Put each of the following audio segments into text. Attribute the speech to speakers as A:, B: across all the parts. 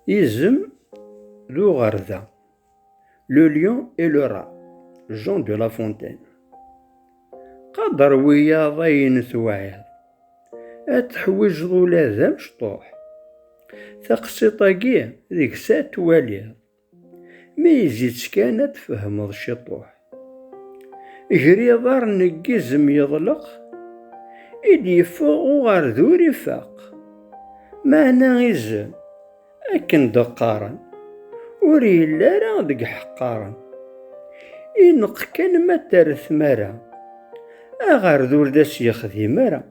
A: Isem d uɣerda Le lion et le rat Jean de la Fontaine Qader wiyaḍ ayen tewɛiḍ Ad teḥwijeḍ ula d amecṭuḥ Taqsiṭ-agi deg-s ad twaliḍ Mi yezzi-tt kan ad tfehmeḍ ciṭuḥ. Ger iḍar neggizem yeḍleq, i d-yeffeɣ uɣerdur ifaq. Meɛna izem, akken d-qqaren, ur yelli ara deg ḥeqqaren. Ineqq kan ma terret tmara, aɣerdur d as-yexdim ara.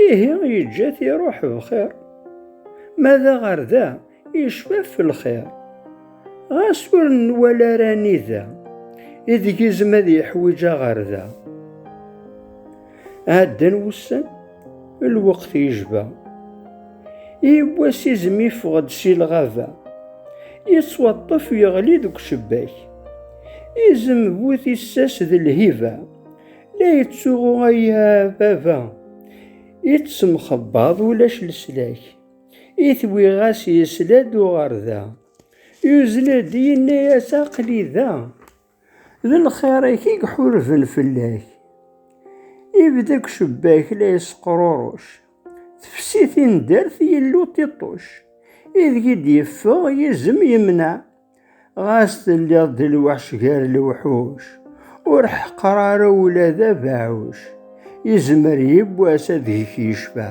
A: Ihi yeǧǧa-t iruḥ bxir. Ma d aɣer da, yecfa f lxir. Ɣas ur nwala ara anida, ideg izem ad yeḥwiǧ aɣer da. Ɛeddan wussan, lweqt yejba. Yiwwas izem yeffeɣ-d si lɣaba. Yettwaṭṭef yeɣli deg ucebbak. Izem bu tissas d lhiba. La yettsuɣu aya baba. Ittemxebbaḍ ulac leslak. Itwiɣ-as yesla-d uɣerda. Yuzzel-d yenna-as aqli da. D lxir-ik i iḥurben fell-ak. Ibda deg ucebbak la yesqruruc. Tefsi tindert yellu tiṭṭuc. Ideg i d-yeffeɣ yizem yemneɛ. ɣas telliḍ d lweḥc gar lewḥuc ur ḥeqqer ara ula d abeɛɛuc yezmer yiwwas ad gek yecfa